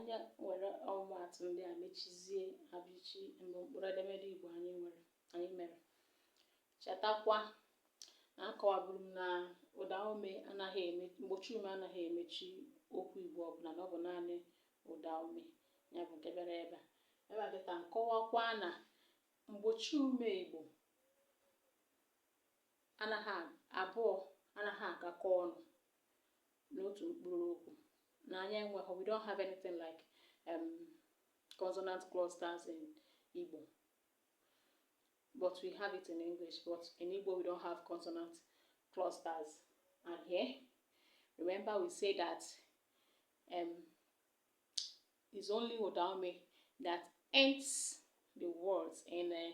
Anyị were ọmụmaatụ ndị a mechizie abịchị bụ mkpụrụ edemede Igbo anyị nwere anyị mere. Chetakwa na akọwaburu m na ụda ume anaghị eme mgbochi ume anaghị emechi okwu Igbo ọbụla na ọ bụ naanị ụda ume ya bụ nke bịara ebe a. Ebe a kịta m kọwakwa na mgbochi ume Igbo abụọ anaghị agakọ ọnụ n'otu mkpụrụ okwu na anyị enweghị we don't have anything like um, consonant clusters in Igbo but we have it in English but in Igbo we don't have consonant clusters and here remember we say that um, it's only ụdaume that ends the words in uh,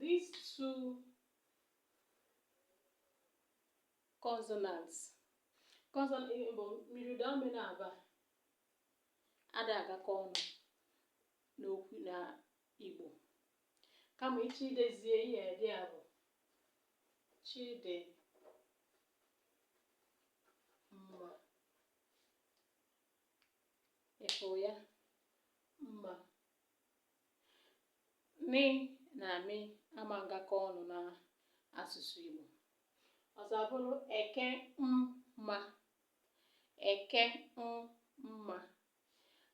These two consonants consonant eh, bụ myiri ụda ume na-aba ada agakọ ọnụ n'okwu na Igbo kama ị chọọ idezie ihe dị a bụ Chidimma ịfụ ya mma Nị na mị ama ngakọ ọnụ na asụsụ Igbo. Ọzọ abụrụ eke mma. Eke mma.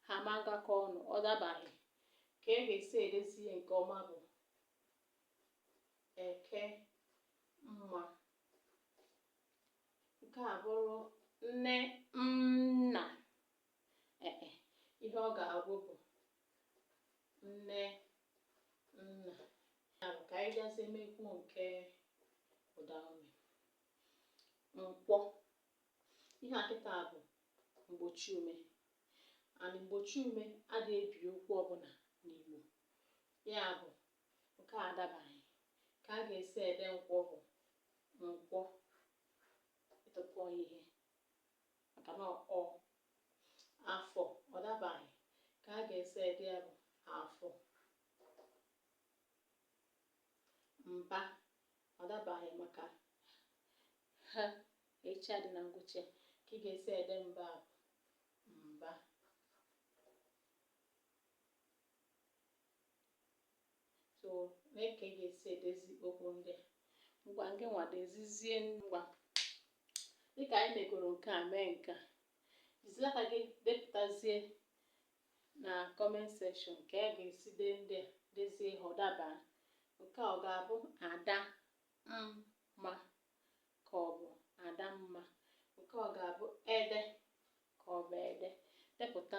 Ha ama ngakọ ọnụ. Ọ dabaghị. Ka e ga-esi edezi ihe nke ọma bụ eke mma. Nke a bụrụ nne nna. Ee e, ihe ọ ga-abụ bụ nne nna. Ya bụ ka anyị bịazie mekwuo nke ụdaume. Nkwọ. Ihe a kịta bụ mgbochi ume. And mgbochi ume ada ebi okwu ọbụla n'Igbo. Ya bụ nke a adabaghị. Ka a ga-esi ede nkwọ bụ nkwọ. Ị tụpọọ ya ihe. maka na ọ afọ ọ dabaghị ka a ga-esi ede ya bụ afọ mba ọ dabaghị maka H a dị na ngwụcha ka ị ga-esi ede mba bụ mba So, lee ka ị ga-esi edezi okwu ndị a. Ngwa ngịnwa dezizie ngwa. Dị ka anyị megoro nke a mee nke a, jizie aka gị depụtazie na comment section ka a ga-esi dee ndị a dezie ha ọ daba. Nke a ọ ga-abụ ada mma ka ọ bụ ada mma? Nke a ọ ga-abụ ede ka ọ bụ ede? Depụta.